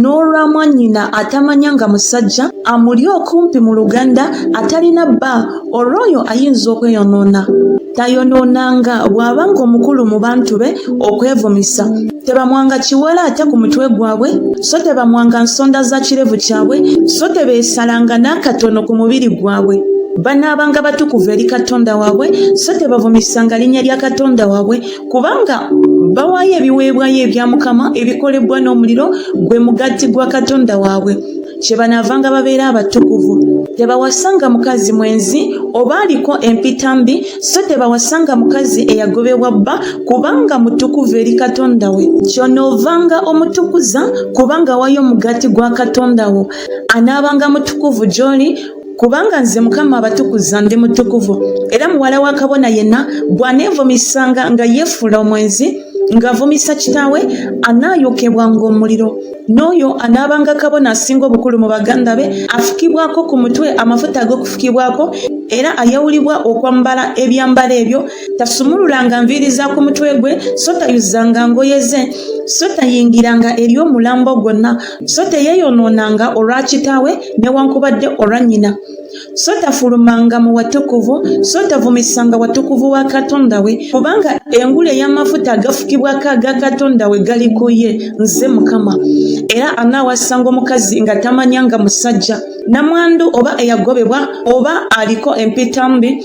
n'olwa mwannyina atamanya nga musajja amuli okumpi mu luganda atalina bba olw'oyo ayinza okweyonoona tayonoonanga bw'aba ng'omukulu mu bantu be okwevumisa tebamwanga kiwala ate ku mutwe gwabwe so tebamwanga nsonda za kirevu kyabwe so tebeesalanga n'akatono ku mubiri gwabwe banaabanga batukuvu eri katonda waabwe so tebavumisanga linnya lya katonda waabwe kubanga bawaayo ebiweebwayo ebya mukama ebikolebwa n'omuliro gwe mugatti gwa katonda waabwe kye banaavanga babeera abatukuvu tebawasanga mukazi mwenzi oba aliko empita mbi so tebawasanga mukazi eyagobebwa bba kubanga mutukuvu eri katonda we kyonoovanga omutukuza kubanga wayo omugati gwa katonda wo anaabanga mutukuvu gy'oli Kubanga nze Mukama abatukuza ndi mutukuvu, era muwala wa kabona yenna bw'aneevumisanga nga yeefuula omwenzi, ng'avumisa kitaawe, anaayokebwa ng'omuliro. N'oyo anaabanga kabona asinga obukulu mu baganda be, afukibwako ku mutwe amafuta ag'okufukibwako, era ayawulibwa okwambala ebyambalo ebyo, tasumululanga nviiri za ku mutwe gwe, so tayuzanga ngoye ze, so tayingiranga eri omulambo gwonna. so teyeeyonoonanga olwa kitaawe newankubadde olwa nnyina so tafulumanga mu watukuvu so tavumisanga watukuvu wa katonda we kubanga engulu ey'amafuta agafukibwako aga katonda we gali ku ye nze mukama era anaawasanga omukazi nga tamanyanga musajja namwandu oba eyagobebwa oba aliko empitambi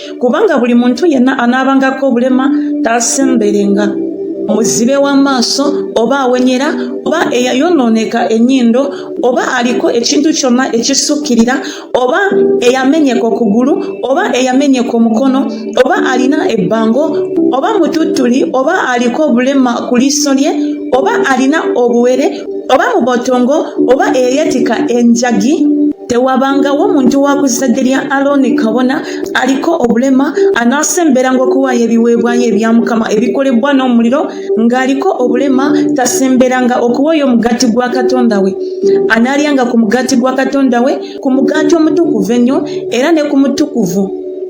kubanga buli muntu yenna anaabangako obulema taasemberenga muzibe w'amaaso oba awenyera oba eyayonooneka ennyindo oba aliko ekintu kyonna ekisukkirira oba eyamenyeka okugulu oba eyamenyeka omukono oba alina ebbango oba mututtuli oba aliko obulema ku liiso lye oba alina obuwere oba mu botongo oba eyeyetika enjagi tewabangawo muntu wa ku zzadde lya alooni kabona aliko obulema anaasemberanga okuwaayo ebiweebwayo ebya mukama ebikolebwa n'omuliro ng'aliko obulema tasemberanga okuwaayo omugaati gwa katonda we anaalyanga ku mugaati gwa katonda we ku mugaati omutukuvu ennyo era ne ku mutukuvu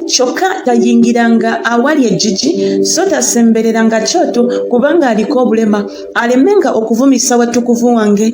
kyokka tayingiranga awali ejjiji so tasembereranga kyoto kubanga aliko obulema alemenga okuvumisa watukuvu wange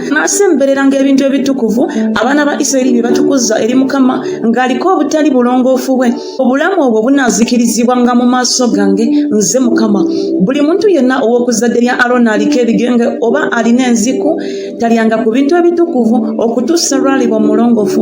n'asemberera ng'ebintu ebitukuvu abaana ba isirayiri bye batukuza eri mukama ng'aliko obutali bulongoofu bwe obulamu obwo bunaazikirizibwa nga mu maaso gange nze mukama buli muntu yenna ow'okuzadde lya arona aliko ebigenge oba alina enziku talyanga ku bintu ebitukuvu okutuusa lwalibwa omulongoofu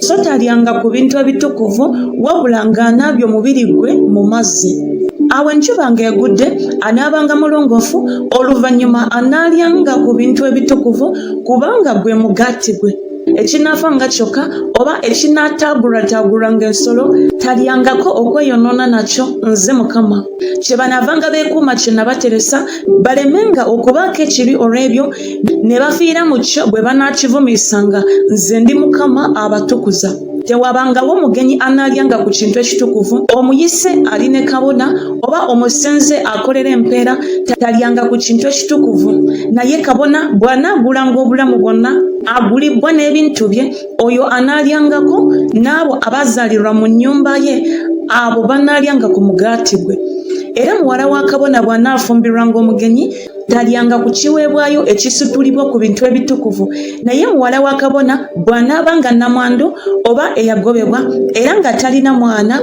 So talyanga ku bintu ebitukuvu wabula ng'anaabye omubiri gwe mu mazzi. Awo enjuba ng'egudde anaabanga mulongoofu, oluvannyuma anaalyanga ku bintu ebitukuvu kubanga gwe mugaati gwe. Ekinaafa nga kyokka oba ekinaataagulwataagulwa ng'ensolo talyangako okweyonoona nakyo. Nze Mukama. kyebanavanga bekuuma kyenabateresa balemenga okubaako ekibi olw'ebyo ne bafiira mu kyo bwe banaakivumiisanga nze ndi mukama abatukuza tewabangawo mugenyi anaalyanga ku kintu ekitukuvu omuyise ali ne kabona oba omusenze akolera empeera talyanga ku kintu ekitukuvu naye kabona bw'anaagulanga obulamu bwonna agulibbwa n'ebintu bye oyo anaalyangako n'abo abaazaalirwa mu nnyumba ye abo banaalyanga ku mugaati gwe era muwala wa kabona bw'anaafumbirwanga omugenyi talyanga ku kiweebwayo ekisitulibwa ku bintu ebitukuvu naye muwala wa kabona bw'anaaba nga namwandu oba eyagobebwa era nga talina mwana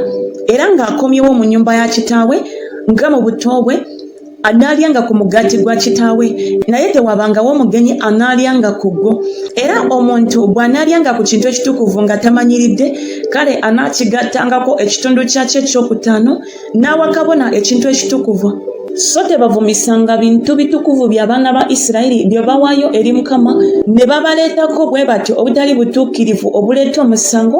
era ng'akomyewo mu nnyumba ya kitaawe nga mu buto bwe anaalyanga ku mugaati gwa kitaawe naye tewabangawo omugenyi anaalyanga ku gwo era omuntu bw'anaalyanga ku kintu ekitukuvu nga tamanyiridde kale anaakigattangako ekitundu kyakyo ekyokutaano n'awa kabona ekintu ekitukuvu so tebavumisanga bintu bitukuvu by'abaana ba isirayiri bye bawaayo eri mukama ne babaleetako bwe batyo obutali butuukirivu obuleeta omusango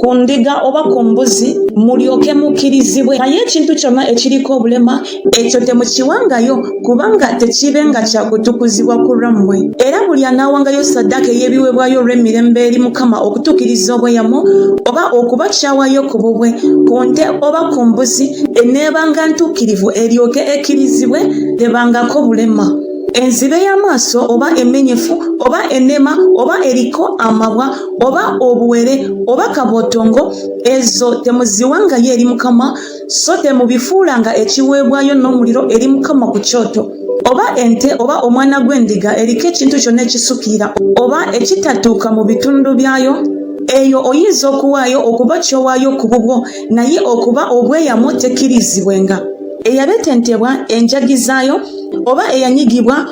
ku ndiga oba ku mbuzi mulyoke mukirizibwe naye ekintu kyonna ekiriko obulema ekyo temukiwangayo kubanga tekibe nga kyakutukuzibwa ku lwammwe era buli anaawangayo saddaaka ey'ebiweebwayo olw'emirembe eri mukama okutuukiriza obweyamo oba okuba kyawayo ku bubwe ku nte oba ku mbuzi eneebanga ntuukirivu eryoke ekirizibwe tebangako bulema enzibe y'amaaso oba emenyefu oba enema oba eriko amabwa oba obuwere oba kabotongo ezo temuziwangayo eri mukama so temubifuulanga ekiweebwayo n'omuliro eri mukama ku kyoto oba ente oba omwana gw'endiga eriko ekintu kyonna ekisukira oba ekitatuuka mu bitundu byayo eyo oyinza okuwaayo okuba kyowaayo ku bubwo naye okuba obweyamu tekkirizibwenga eyabetentebwa enjagi zaayo oba eyanyigibwa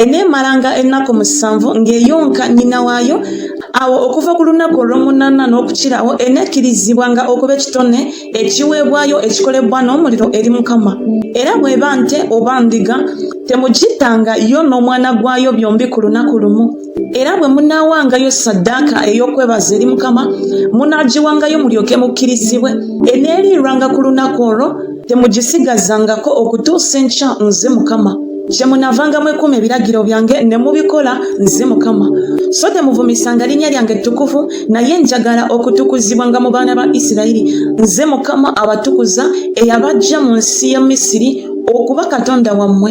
eneemalanga ennaku musanvu ng'eyonka nnyina waayo awo okuva ku lunaku olw'omunaana n'okukirawo eneekkirizibwanga okuba ekitone ekiweebwayo ekikolebwa n'omuliro eri mukama era bw'eba nte oba ndiga temugittanga yo n'omwana gwayo byombi ku lunaku lumu era bwe munaawangayo saddaaka ey'okwebaza eri mukama munaagiwangayo mulyoke mukkirizibwe eneeriirwanga ku lunaku olwo temugisigazangako okutuusa enkya nze mukama kyemunavanga mwekuuma ebiragiro byange ne mubikola nze mukama so temuvumisanga linnya lyange ettukuvu naye njagala okutukuzibwanga mu baana ba isirayiri nze mukama abatukuza eyabajja mu nsi ya misiri okuba katonda wammwe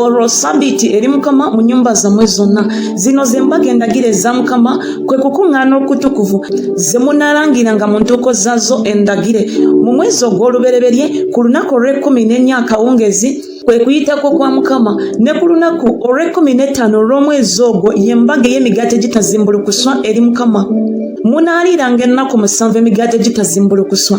olwo sabiiti eri mukama mu nyumba zammwe zonna zino ze mbaga endagire eza mukama kwe kukuŋŋaana okutukuvu ze munalangira nga mu ntuuko zazo endagire mu mwezi ogw'olubereberye ku lunaku olw'ekkumi n'ennya akawungeezi kwe kuyitako kwa mukama ne ku lunaku olw'ekkumi n'ettaano olw'omwezi ogwo ye mbaga ey'emigaati egitazimbulukuswa eri mukama munaaliiranga ennaku musanvu emigaati egitazimbulukuswa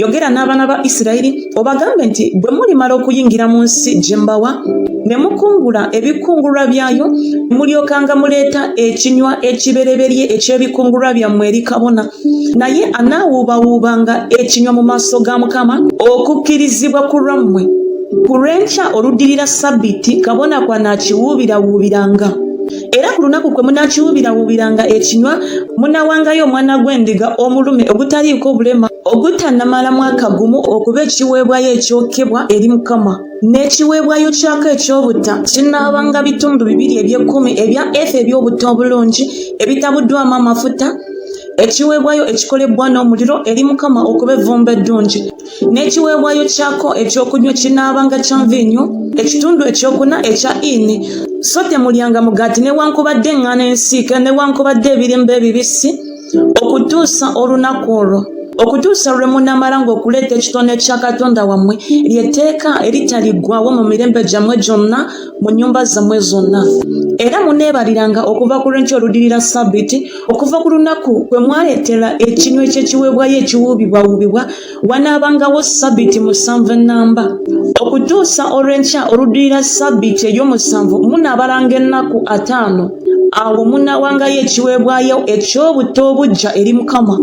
yogera n'abaana ba isirayiri obagambe nti bwe mulimala okuyingira mu nsi gye mbawa ne mukungula ebikungulwa byayo mulyokanga muleeta ekinywa ekibereberye eky'ebikungulwa byammwe eri kabona naye anaawuubawuubanga ekinywa mu maaso ga mukama okukkirizibwa ku lwammwe ku lw'enkya oluddirira ssabbiiti kabona kwanaakiwuubirawuubiranga era ku lunaku kwe munakiwubirawubiranga ekinywa munawangayo omwana gw'endiga omulume ogutaliiko obulema ogutanamala mwaka gumu okuba ekiweebwayo ekyokebwa eri mukama n'ekiweebwayo kyako eky'obutta kinaabanga bitundu bibiri eby'ekkumi ebya efa eby'obutta obulungi ebitabuddwamu amafuta ekiweebwayo ekikolebwa n'omuliro eri mukama okuba evvumba eddungi n'ekiweebwayo kyako ekyokunywa kinaabanga kya nviinyo ekitundu ekyokuna ekya ini so temulyanga mugaati newankubadde eŋŋaano ensiike newankubadde ebirimba ebibisi okutuusa olunaku olwo okutuusa lwe munamala ng'okuleeta ekitone kya katonda wammwe lyetteeka eritaliggwawo mu mirembe gyammwe gyonna mu nnyumba zammwe zonna era muneebaliranga okuva ku lwenkya oludirira sabbiti okuva ku lunaku kwe mwaleetera ekinwe ky'ekiweebwayo ekiwuubibwawuubibwa wanaabangawo ssabbiiti musanvu ennamba okutuusa olw'enkya oluddirira ssabbiiti ey'omusanvu munaabalanga ennaku ataano awo munaawangayo ekiweebwayo eky'obutta obujja eri mukama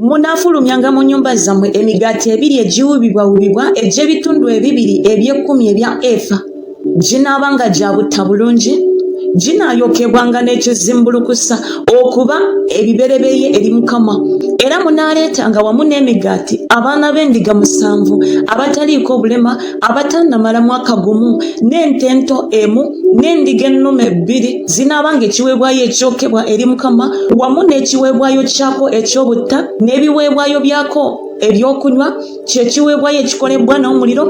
munaafulumyanga mu nnyumba zammwe emigaati ebiri egiwuubibwawuubibwa egy'ebitundu ebibiri eby'ekkumi ebya efa ginaaba nga gya butta bulungi ginaayokebwanga n'ekizimbulukusa okuba ebibereberye eri mukama era munaaleetanga wamu n'emigaati abaana b'endiga musanvu abataliiko obulema abatannamala mwaka gumu n'ente ento emu n'endiga ennume bbiri zinaabanga ekiweebwayo ekyokebwa eri mukama wamu n'ekiweebwayo kyako eky'obutta n'ebiweebwayo byako eby'okunywa kyekiweebwayo ekikolebwa n'omuliro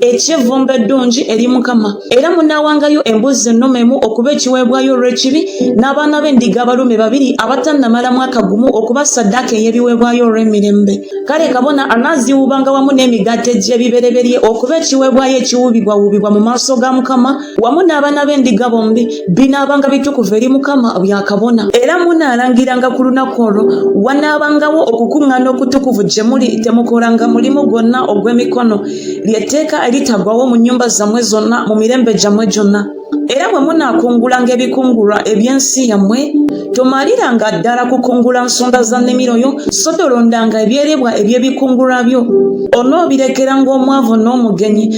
eky'evvumbe eddungi eri mukama era munaawangayo embuzi ennume emu okuba ekiweebwayo olw'ekibi n'abaana b'endiga abalume babiri abatannamala mwaka gumu okuba saddaaka ey'ebiweebwayo olw'emirembe kale kabona anaaziwuubanga wamu n'emigaati egy'ebibereberye okuba ekiweebwayo ekiwuubibwawuubibwa mu maaso ga mukama wamu n'abaana b'endiga bombi binaabanga bitukuvu eri mukama byakabona era munaalangiranga ku lunaku olwo wanaabangawo okukuŋŋaana okutukuvu gye muli temukolanga mulimu gwonna ogw'emikono ly'etteeka eritagwawo mu nnyumba zammwe zonna mu mirembe gyammwe gyonna era bwe munaakungulanga ebikungulwa eby'ensi yammwe tomaliranga ddala kukungula nsonda za nnimiro yo so tolondanga ebyerebwa eby'ebikungulwa byo onoobirekeranga omwavu n'omugenyi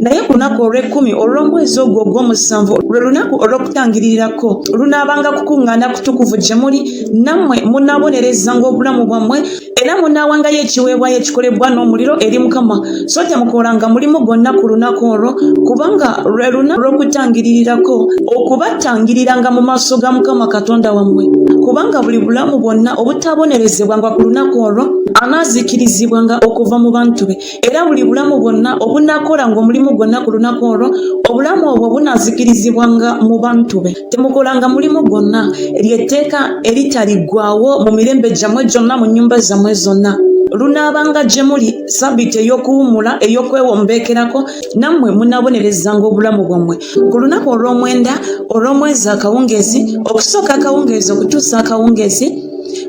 naye ku lunaku olw'ekkumi olw'omwezi ogwo ogw'omusanvu lwe lunaku olw'okutangiririrako lunaabanga kukuŋŋaana kutukuvu gye muli nammwe munaabonerezanga obulamu bwammwe era munaawangayo ekiweebwayo ekikolebwa n'omuliro eri mukama so temukolanga mulimu gwonna ku lunaku olwo kubanga lwe lunaku lw'okutangiririrako okubatangiriranga mu maaso ga mukama katonda wammwe kubanga buli bulamu bwonna obutaabonerezebwanga ku lunaku olwo anaazikirizibwanga okuva mu bantu be era buli bulamu bwonna obunakola ng'omulimu gwonna ku lunaku olwo obulamu obwo bunazikirizibwa nga mu bantu be temukolanga mulimu gwonna lyetteeka eritaliggwawo mu mirembe gyammwe gyonna mu nnyumba zammwe zonna lunaabanga gye muli sabiiti ey'okuwummula ey'okwewombeekerako nammwe munaabonerezanga obulamu bwammwe ku lunaku olw'omwenda olw'omwezi akawungeezi okusooka akawungeezi okutuusa akawungeezi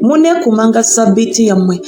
muneekumanga sabiiti yammwe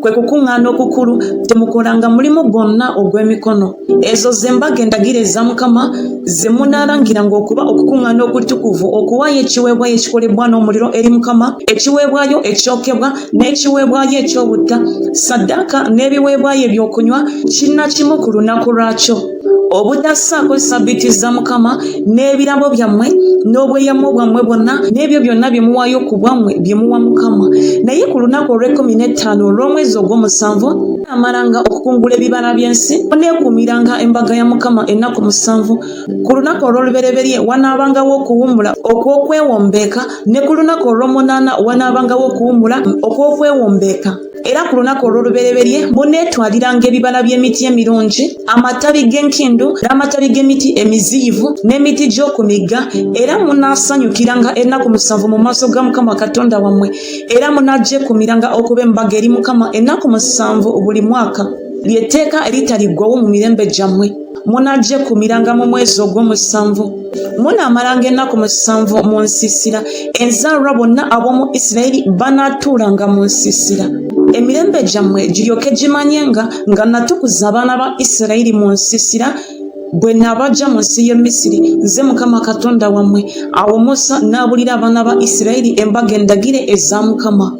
kwe kukuŋŋaana okukulu temukolanga mulimu gwonna ogw'emikono ezo z'embaga endagire eza mukama ze munaalangiranga okuba okukuŋŋaana okutukuvu okuwaayo ekiweebwayo ekikolebwa n'omuliro eri mukama ekiweebwayo ekyokebwa n'ekiweebwayo eky'obutta saddaaka n'ebiweebwayo eby'okunywa kinnakimu ku lunaku lwakyo obutassaako ssabbiiti za mukama n'ebirabo byammwe n'obweyamo bwammwe bwonna n'ebyo byonna bye muwaayo ku bwammwe bye muwa mukama naye ku lunaku olw'ekkumi n'ettaano olw'omwezi ogw'omusanvu amalanga okukungula ebibala by'ensi oneekuumiranga embaga ya mukama ennaku musanvu ku lunaku olw'olubereberye wanaabangawo okuwummula okw'okwewombeeka ne ku lunaku olw'omunaana wanaabangawo okuwummula okw'okwewombeeka Era ku lunaku olw'olubereberye muneetwaliranga ebibala by'emiti emirungi, amatabi g'enkindu, n'amatabi g'emiti emiziyivu, n'emiti gy'oku migga, era munaasanyukiranga ennaku musanvu mu maaso ga Mukama Katonda wammwe, era munagyekuumiranga okuba embaga eri Mukama ennaku musanvu buli mwaka, ly'etteeka eritaliggwawo mu mirembe gyammwe. munagyekumiranga mu mwezi ogw'omusanvu munaamalanga ennaku musanvu mu nsiisira enzaalwa bonna ab'omu isirayiri banaatuulanga mu nsiisira emirembe gyammwe giryoke gimanye nga nga natukuza abaana ba isirayiri mu nsiisira bwe nabajja mu nsi y'e misiri nze mukama katonda wammwe awo musa n'abulira abaana ba isirayiri embaga endagire eza mukama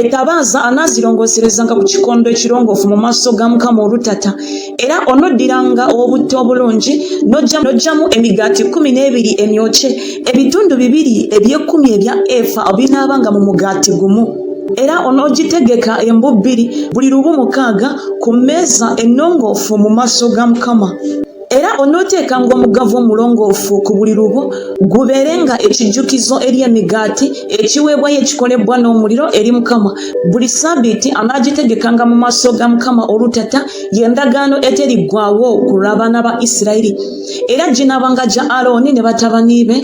ettabaaza anaazirongooserezanga ku kikondo ekirongoofu mu maaso ga mukama olutata era onoddiranga obutto obulungi n'oggyamu emigaati kkumi n'ebiri emyokye ebitundu bibiri eby'ekkumi ebya efa obinaabanga mu mugaati gumu era onoogitegeka embu bbiri buli lubu mukaaga ku mmeeza ennongoofu mu maaso ga mukama era onooteekanga omugavu omulongoofu ku buli lubu gubeere nga ekijjukizo eri emigaati ekiweebwayo ekikolebbwa n'omuliro eri mukama buli saabiiti anaagitegekanga mu maaso ga mukama olutata y'endagaano eteriggwawo ku lw'abaana ba isirayiri era ginaabanga gya alooni ne batabani be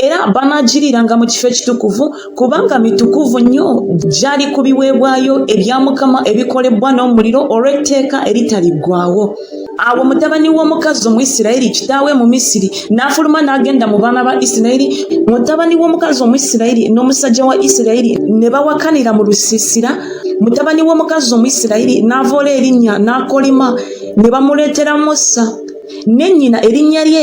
era banaagiriiranga mu kifo ekitukuvu kubanga mitukuvu nnyo gyali ku biweebwayo ebya mukama ebikolebwa n'omuliro olw'etteeka eritaliggwawo awo mutabani w'omukazi omuisirayiri kitaawe mu misiri n'afuluma n'agenda mu baana ba isirayiri mutabani w'omukazi omuisirayiri n'omusajja wa isirayiri ne bawakanira mu lusiisira mutabani w'omukazi omuisirayiri n'avoola erinnya n'akolima ne bamuleetera musa ne nnyina erinnya lye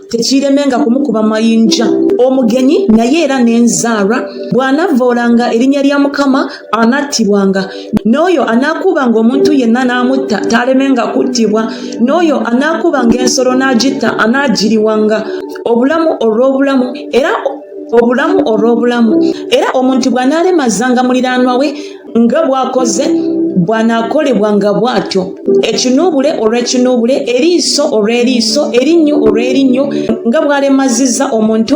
tekiiremenga kumukuba mayinja omugenyi naye era n'enzaarwa bw'anavvoolanga erinnya lya mukama anattibwanga n'oyo anaakuubanga omuntu yenna n'amutta taalemenga kuttibwa n'oyo anaakuubanga ensolo n'agitta anaagiriwanga obulamu olw'obulamu era obulamu olw'obulamu era omuntu bw'anaalemazanga muliraanwa we nga bwakoze bwanaakolebwa nga bw'atyo ekinuubule olw'ekinuubule eriiso olw'eriiso erinnyo olw'erinnyo nga bw'alemazizza omuntu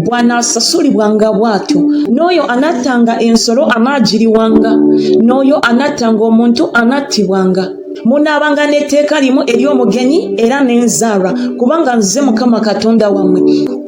bwanaasasulibwa nga bw'atyo n'oyo anattanga ensolo anaagiriwanga n'oyo anattanga omuntu anattibwanga munaabanga n'etteeka limu ery'omugenyi era n'enzaalwa kubanga nze mukama katonda wammwe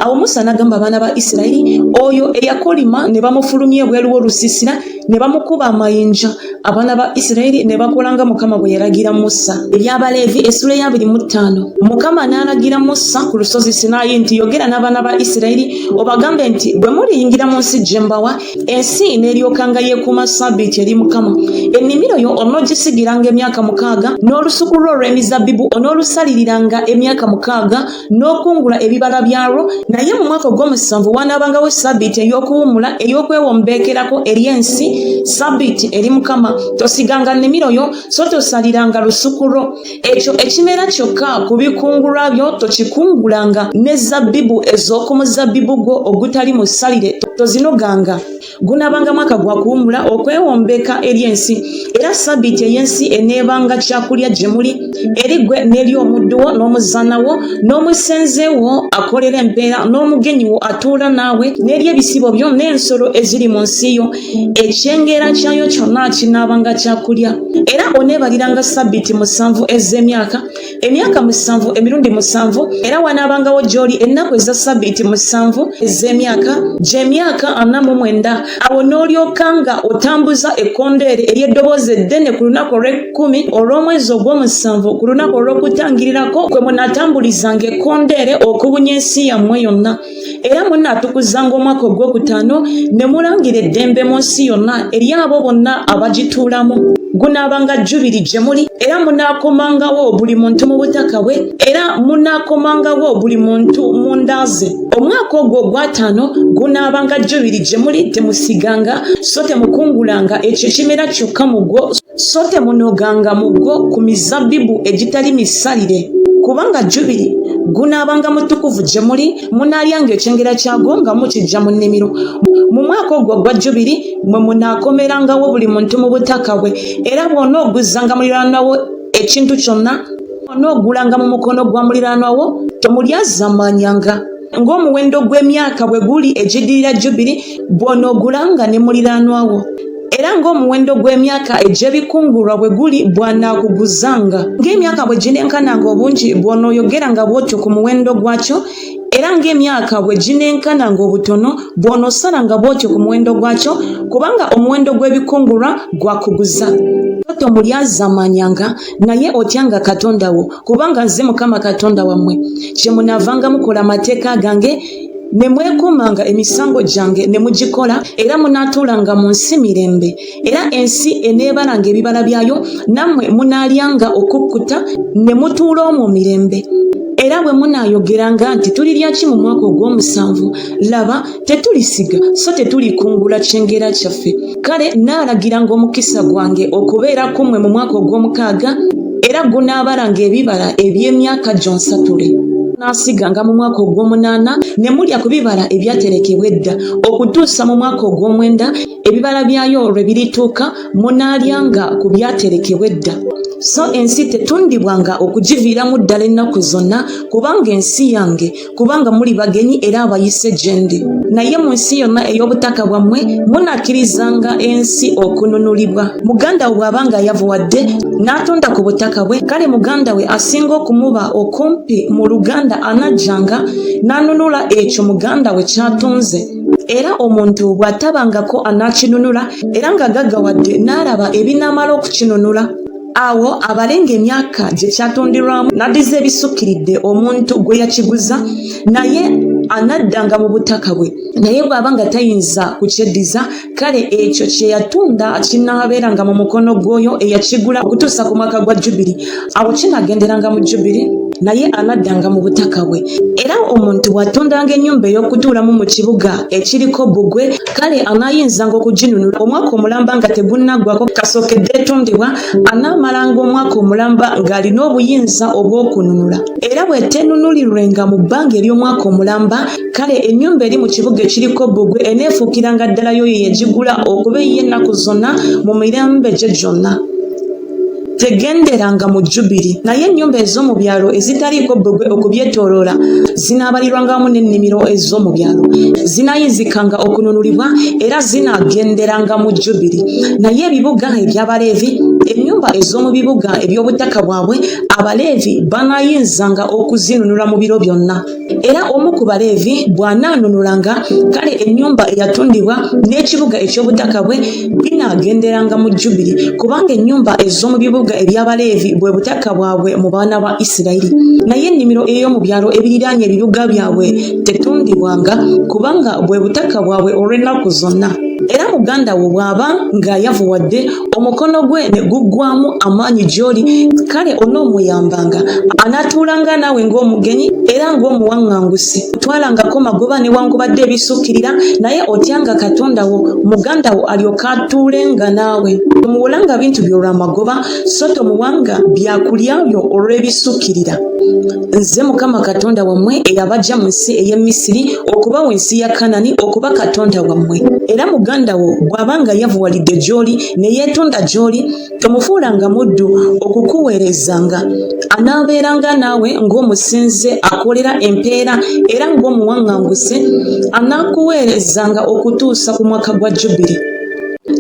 awo musa n'agamba abaana ba isirayiri oyo eyakolima ne bamufulumya ebweru w'olusiisira ne bamukuba amayinja abaana ba isirayiri ne bakola nga mukama bwe yalagira musa ebyabaleevi essula eyabiri mu ttaano mukama n'alagira musa ku lusozi sinaayi nti yogera n'abaana ba isirayiri obagambe nti bwe muliyingira mu nsi gye mbawa ensi n'eryokanga yeekuuma sabiiti eri mukama ennimiro yo onoogisigiranga emyaka mukaaga n'olusuku lwo olw'emizabbibu onoolusalirira nga emyaka mukaaga n'okungula ebibala byalwo naye mu mwaka ogw'omusanvu wanaabangawo ssabbiiti ey'okuwummula ey'okwewa omubeekerako eri ensi ssabbiiti eri mukama tosiganga nnimiro yo so tosaliranga lusuku lwo ekyo ekimera kyokka ku bikungulwa byo tokikungulanga ne zabbibu ez'oku muzabbibu gwo ogutali musalire tozinoganga gunaabanga mwaka gwa kuwummula okwewombeka eri ensi era sabiiti ey'ensi eneebanga kyakulya gye muli eri gwe n'eri omuddu wo n'omuzaana wo n'omusenze wo akolera empeera n'omugenyi wo atuula naawe n'eri ebisibo byo n'ensolo eziri mu nsi yo ekyengera kyayo kyonna kinaabanga kyakulya era oneebaliranga sabiiti musanvu ez'emyaka emyaka musanvu emirundi musanvu era wanaabangawo gy'oli ennaku eza ssabbiiti musanvu ez'emyaka gy'emyaka ana mu mwenda awo n'olyoka nga otambuza ekkondeere ery'eddoboozi eddene ku lunaku olw'ekkumi olw'omwezi ogw'omusanvu ku lunaku olw'okutangirirako kwe munaatambulizanga ekkondeere okubunya ensi yammwe yonna era munaatukuzzanga omwaka ogw'okutaano ne mulangira eddembe mu nsi yonna eri abo bonna abagituulamu gunaabanga jjubiri gye muli era munaakomangawo buli muntu mu butaka bwe era munaakomangawo buli muntu mu nda ze omwaka ogwo ogwataano gunaabanga jjubiri gye muli temusiganga so temukungulanga ekyo ekimera kyokka mu gwo so temunoganga mugo ku mizabbibu egitali misalire kubanga jubiri gunaabanga mutukuvu gye muli munaalyanga ekyengera kyagwo nga mukijja mu nnimiro mu mwaka ogwo ogwa jubiri mwe munaakomerangawo buli muntu mu butaka bwe era bwona oguzzanga muliraanwawo ekintu kyonna onoogulanga mu mukono gwa muliraanwawo tomulyazamanyanga ng'omuwendo gw'emyaka bwe guli egiddirira jubiri bw'onoogulanga ne muliraanwa wo era ng'omuwendo gw'emyaka egy'ebikungulwa bwe guli bw'anaakuguzanga ng'emyaka bwe ginenkananga obungi bw'onooyogeranga bw'otyo ku muwendo gwakyo era ng'emyaka bwe ginenkana ng'obutono bw'onosala nga bw'otyo ku muwendo gwakyo kubanga omuwendo gw'ebikungulwa gwakuguza toto mulyazamanyanga naye otyanga katonda wo kubanga nze mukama katonda wammwe kyemunaavanga mukola amateeka gange ne mwekuumanga emisango gyange ne mugikola era munaatuulanga mu nsi mirembe era ensi eneebalanga ebibala byayo nammwe munaalyanga okukkuta ne mutuula omwo mirembe era bwe munaayogeranga nti tulirya ki mu mwaka ogw'omusanvu laba tetulisiga so tetulikungula kyengera kyaffe kale naalagira ng'omukisa gwange okubeera ku mmwe mu mwaka ogw'omukaaga era gunaabalanga ebibala eby'emyaka gyonsatule naasiganga mu mwaka ogw'omunaana ne mulya ku bibala ebyaterekebwa edda okutuusa mu mwaka ogw'omwenda ebibala byayo lwe birituuka munaalyanga ku byaterekebwa edda so ensi tetundibwanga okugiviiramu ddala ennaku zonna kubanga ensi yange kubanga muli bagenyi era abayise gyendi naye mu nsi yonna ey'obutaka bwammwe munakkirizanga ensi okununulibwa muganda we bw'aba nga yavuwadde n'atunda ku butaka bwe kale muganda we asinga okumuba okumpi mu luganda anajjanga n'anunula ekyo muganda we kyatunze era omuntu bw'atabangako anaakinunula era nga gaggawadde n'alaba ebinaamala okukinunula awo abale ng'emyaka gye kyatonderwamu n'addiza ebisukkiridde omuntu gwe yakiguza naye anaddanga mu butaka bwe naye bw'aba nga tayinza kukyeddiza kale ekyo kye yatunda kinaabeeranga mu mukono gw'oyo eyakigula okutuusa ku mwaka gwa jubiri awo kinaagenderanga mu jubiri naye anaddanga mu butaka bwe era omuntu bw'atundanga ennyumba ey'okutuulamu mu kibuga ekiriko bbugwe kale anaayinzanga okuginunula omwaka omulamba nga tegunnaggwako kasookedde etundibwa anaamalanga omwaka omulamba ng'alina obuyinza obw'okununula era bw'eteenunulirwenga mu bbanga ery'omwaka omulamba kale ennyumba eri mu kibuga ekiriko bbugwe eneefuukiranga ddala y'oyo yagigula okuba ey'ennaku zonna mu mirembe gye gyonna tegenderanga mu jjubiri naye ennyumba ez'omu byalo ezitaliiko bbugwe okubyetooloola zinaabalirwanga wamu n'ennimiro ez'omu byalo zinaayinzikanga okununulibwa era zinaagenderanga mu jjubiri naye ebibuga eby'abaleevi ennyumba ez'omu bibuga eby'obutaka bwabwe abaleevi banaayinzanga okuzinunula mu biro byonna Era omu ku Baleevi bw'anaanunulanga, kale ennyumba eyatundibwa n'ekibuga eky'obutaka bwe binaagenderanga mu Jjubiri, kubanga ennyumba ez'omu bibuga eby'Abaleevi bwe butaka bwabwe mu baana ba Isirayiri. Naye ennimiro ey'omu byalo ebiriraanye ebibuga byabwe tetundibwanga, kubanga bwe butaka bwabwe olw'ennaku zonna. Era muganda wo bw'aba nga yavuwadde, omukono gwe ne guggwamu amaanyi gy'oli kale onoomuyambanga anaatuulanga naawe ng'omugenyi era ng'omuwaŋŋangusi twalangako magoba newankubadde ebisukkirira naye otyanga katonda wo muganda wo alyoka atuulenga naawe tomuwolanga bintu by'olwamagoba so tomuwanga byakulya byo olw'ebisukkirira nze mukama katonda wammwe eyabajja mu nsi ey'e misiri okubawa ensi ya kanani okuba katonda wammwe era muganda wo bw'aba nga yavuwalidde gy'oli ne yeetonda gy'oli tomufuulanga muddu okukuweerezanga anaabeeranga naawe ng'omusinze akolera empeera era ng'omuwaŋŋanguse anaakuweerezanga okutuusa ku mwaka gwa jubiri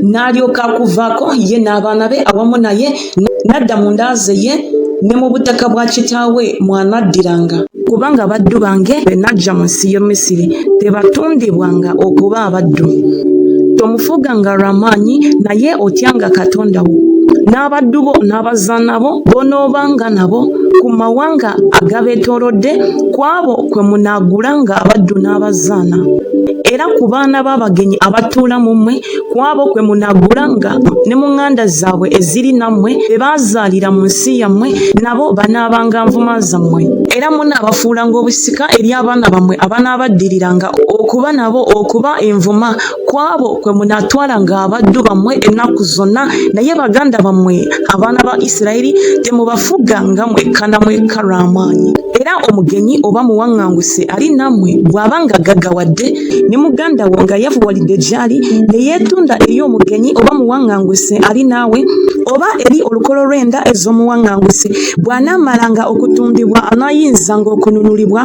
n'alyoka akuvaako ye n'abaana be awamu naye n'adda mu nda ze ye ne mu butaka bwa kitaawe mw'anaddiranga. Kubanga abaddu bange be naggya mu nsi y'e Misiri tebatundibwanga okuba abaddu. Tomufuuganga lwa maanyi, naye otyanga Katonda wo. N'abaddu bo n'abazaana bo b'onoobanga nabo ku mawanga agabeetoolodde, ku abo kwe munaagulanga abaddu n'abazaana, era ku baana b'abagenyi abatuula mu mmwe, ku abo kwe munaagulanga ne mu ŋŋanda zaabwe eziri nammwe be baazaalira mu nsi yammwe nabo banaabanga nvuma zammwe era munaabafuulanga obusika eri abaana bammwe abanaabaddiriranga okuba nabo okuba envuma ku abo kwe munaatwalanga abaddu bammwe ennaku zonna naye baganda bammwe abaana ba isirayiri temubafuga nga mwekka na mwekka lw'amaanyi era omugenyi oba muwaŋŋanguse ali nammwe bw'aba nga gaggawadde ne muganda wo nga yavuwalidde gy'ali ne yeetunda eri omugenyi oba muwaŋŋanguse ali naawe oba eri olukolo lw'enda ez'omuwaŋŋanguse bw'anaamalanga okutundibwa anaayinzanga okununulibwa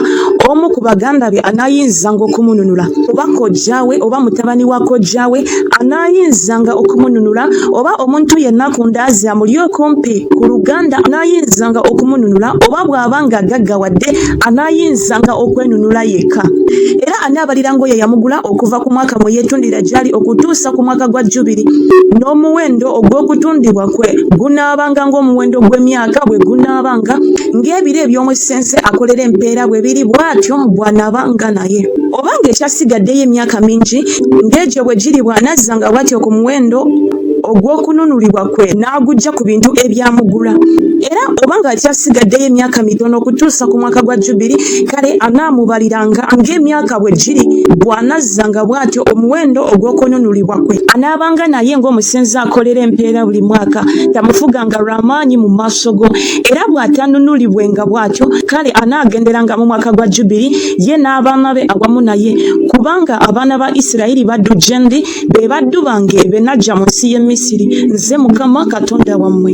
omu ku baganda be anaayinzanga okumununula oba kojjaawe oba mutabani wa kojjaawe anaayinzanga okumununula oba omuntu yenna ku ndaazi amuli okumpi ku luganda anaayinzanga okumununula oba bw'aba ng'agaggawa wadde anaayinzanga okwenunula yekka era anaabaliranga oyo yamugula okuva ku mwaka mwe yeetundira gy'ali okutuusa ku mwaka gwa jjubiri n'omuwendo ogw'okutundibwa kwe gunaabanga ng'omuwendo gw'emyaka bwe gunaabanga ng'ebiro eby'omusense akolera empeera bwe biri bw'atyo bw'anaabanga naye oba ng'ekyasigaddeyo emyaka mingi ng'egyo bwe giri bw'anazzanga bw'atyo ku muwendo ogw'okununulibwa kwe n'aguggya ku bintu ebyamugula era oba ng'akyasigaddeyo emyaka mitono okutuusa ku mwaka gwa jubiri kale anaamubaliranga ng'emyaka bwe giri bw'anazza nga bw'atyo omuwendo ogw'okununulibwa kwe anaabanga naye ng'omusenzi akolera empeera buli mwaka tamufuganga lw'amaanyi mu maaso go era bw'atanunulibwenga bw'atyo kale anaagenderanga mu mwaka gwa jubiri ye n'abaana be awamu naye kubanga abaana ba isirayiri baddu gye ndi be baddu bange be naggya mu nsi y'e Misiri, nze Mukama Katonda wammwe.